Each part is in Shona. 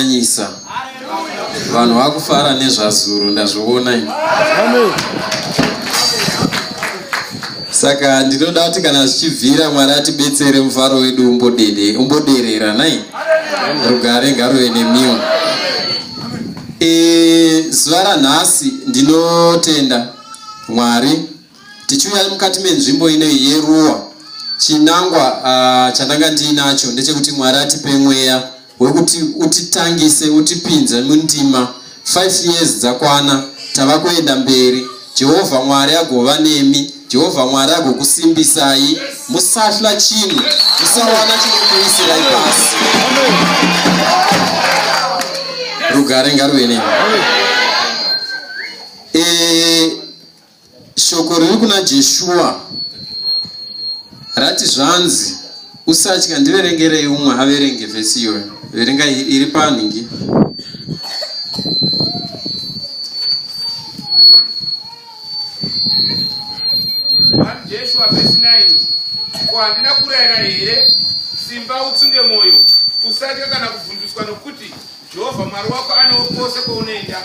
Nyanyisa. Vanhu vakufara nezvazuro ndazviona ini. Saka ndinoda kuti kana zvichibvira Mwari atibetsere mufaro wedu umbodede umboderera nai. Rugare ngaruve nemiwo. E, zuva ranhasi ndinotenda Mwari tichiuya mukati menzvimbo ino yeruwa chinangwa uh, chandanga ndiinacho ndechekuti Mwari atipe mweya wekuti utitangise utipinze mundima 5 years dzakwana tava kuenda mberi jehovha mwari agova nemi jehovha mwari agokusimbisai musahla chinhu musawana chinokuisirai pasi rugare ngaruve nemi e, Shoko riri kuna Jeshua rati zvanzi usatya ndiverengerei umwe averenge vhesi iyoyo verenga iri panhingi ko handina kurayira here simba utsunge mwoyo usatya kana kuvhunduswa nokuti Jehovha Mwari wako anewo kwose kwaunoenda.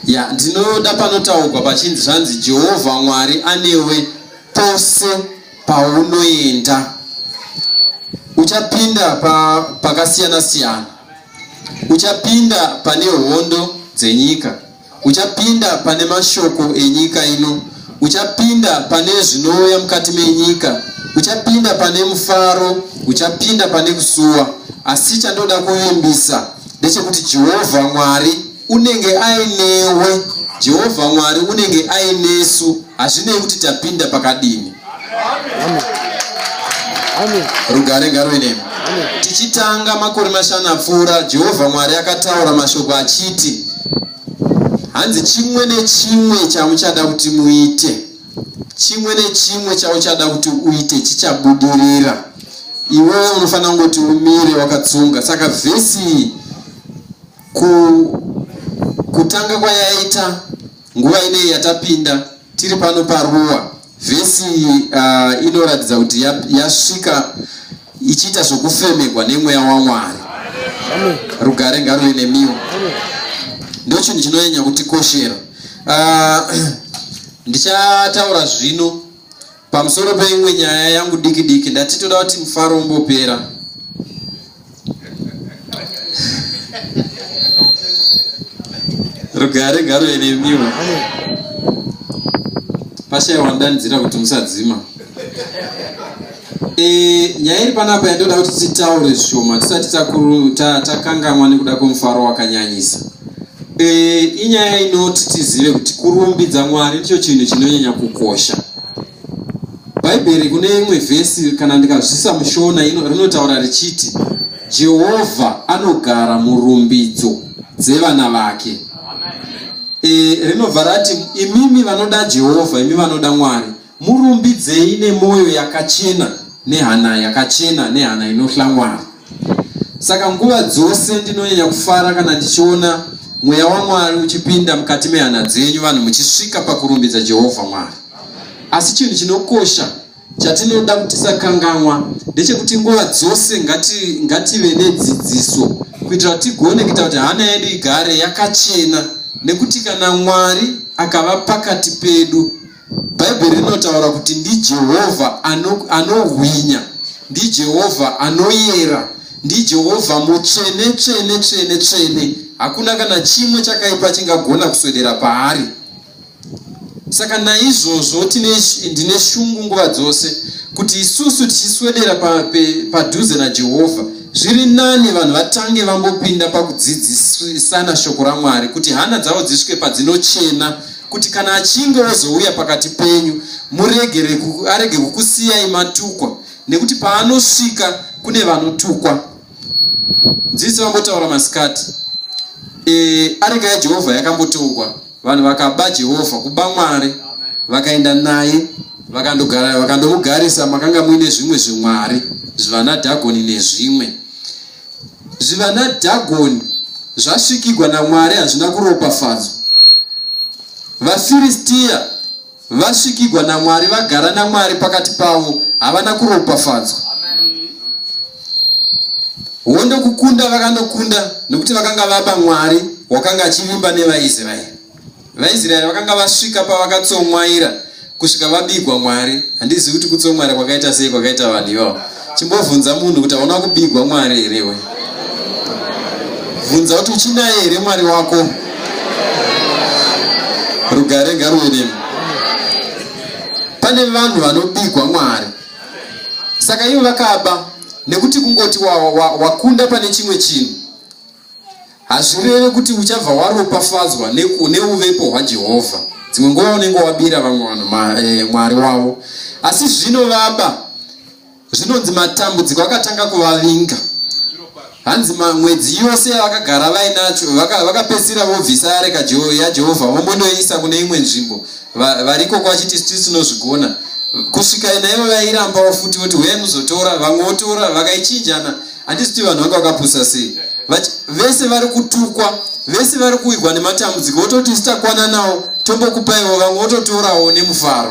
Ya, ndinoda panotaurwa pachinzi zvanzi Jehovha Mwari anewe pose paunoenda. Uchapinda pa, pakasiyana siyana. Uchapinda pane hondo dzenyika. Uchapinda pane mashoko enyika ino, uchapinda pane zvinouya mukati menyika, uchapinda pane mufaro, uchapinda pane kusuwa. Asi chandoda kuvimbisa ndechekuti Jehovha Mwari unenge ainewe, Jehovha Mwari unenge ainesu, hazvinei kuti tapinda pakadini. rugare ngaruve nemi tichitanga makore mashanu apfuura jehovha mwari akataura mashoko achiti hanzi chimwe nechimwe chamuchada kuti muite chimwe nechimwe chauchada kuti uite chichabudirira iwewe unofanira kungoti umire wakatsunga saka vhesi ku kutanga kwayaita Nguva inei yatapinda tiri pano paruwa vhesi uh, inoratidza kuti yasvika ichiita zvokufemegwa nemweya wamwari rugare ngaruve nemiwo ndo chinhu chinonyanya kutikoshera uh, ndichataura zvino Pamusoro peimwe nyaya yangu diki diki ndati toda kuti mufaro umbopera. Rugare garo enemiwa. Pasha wandanidzira kuti musadzima. E, nyaya iri panapa yandoda kuti titaure zvishoma tisati takangamwa nekuda kwemufaro wakanyanyisa E, inyaya inoti tizive kuti kurumbidza mwari ndicho chinhu chinonyanya kukosha bhaibheri kune imwe vhesi kana ndikazvisa mushona rinotaura richiti jehovha anogara murumbidzo dzevana vake e, rinobva rati imimi vanoda jehovha imi vanoda mwari murumbidzei nemwoyo yakachena nehana yakachena nehana inohla mwari Saka nguva dzose ndinonyanya kufara kana ndichiona mweya waMwari uchipinda mukati mehana dzenyu, vanhu muchisvika pakurumbidza Jehovha Mwari. Asi chinhu chinokosha chatinoda kuti tisakanganwa ndechekuti nguva dzose ngati, ngative nedzidziso kuitira kuti tigone kuita kuti hana yedu igare yakachena, nekuti kana Mwari akava pakati pedu bhaibheri rinotaura kuti ndijehovha anohwinya ano ndijehovha anoyera ndijehovha mutsvene tsvene tsvene tsvene hakuna kana chimwe chakaipa chingagona kuswedera paari saka naizvozvo ndine shungu nguva dzose kuti isusu tichiswedera padhuze pa, najehovha zviri nani vanhu vatange vambopinda pakudzidzisana shoko ramwari kuti hana dzavo dzisvike padzinochena kuti kana achinge ozouya pakati penyu muregere arege kukusiyai matukwa nekuti paanosvika kune vanotukwa nzizi vambotaura masikati e, areka yajehovha yakambotukwa vanhu vakaba jehovha kuba mwari vakaenda naye vakandomugarisa makanga muine zvimwe zvimwari zvivanadhagoni nezvimwe Zvivana Dhagoni zvasvikigwa naMwari hazvina kuropafadzwa. VaFiristia vasvikigwa naMwari, vagara naMwari pakati pavo, havana kuropafadzwa. Hondo kukunda vakanokunda nokuti vakanga vaba Mwari wakanga achivimba nevaIsraeri. VaIsraeri vakanga vasvika pavakatsomwaira kusvika vabigwa Mwari. Handizivi kuti kutsomwaira kwakaita sei kwakaita vanhu ivavo. Chimbobvunza munhu kuti hauna kubigwa Mwari here iwe? Bvunza kuti uchinaye here Mwari wako? Rugare ngaruve nemi. Pane vanhu vanobigwa Mwari. Saka ivo vakaba nekuti kungoti wakunda wa, wa pane chimwe chinhu Hazvireve kuti uchabva waropafadzwa neuvepo hwaJehovha. Dzimwe nguva unenge wabira vamwe vanhu eh, mwari wavo, asi zvino vaba zvinonzi matambudziko akatanga kuvavinga hanzi mwedzi yose yavakagara vainacho vakapedzisira vaka vobvisa yareka yajehovha vomondoiisa kune imwe nzvimbo variko kwachiti siti tinozvigona kusvika naivo vairambawo futi voti huya muzotora vamwe votora vakaichinjana handisiti vanhu vanga vakapusa sei vati vese vari kutukwa vese vari kuwirwa nematambudziko vototi sitakwana nawo tombokupaiwo vamwe vototorawo nemufaro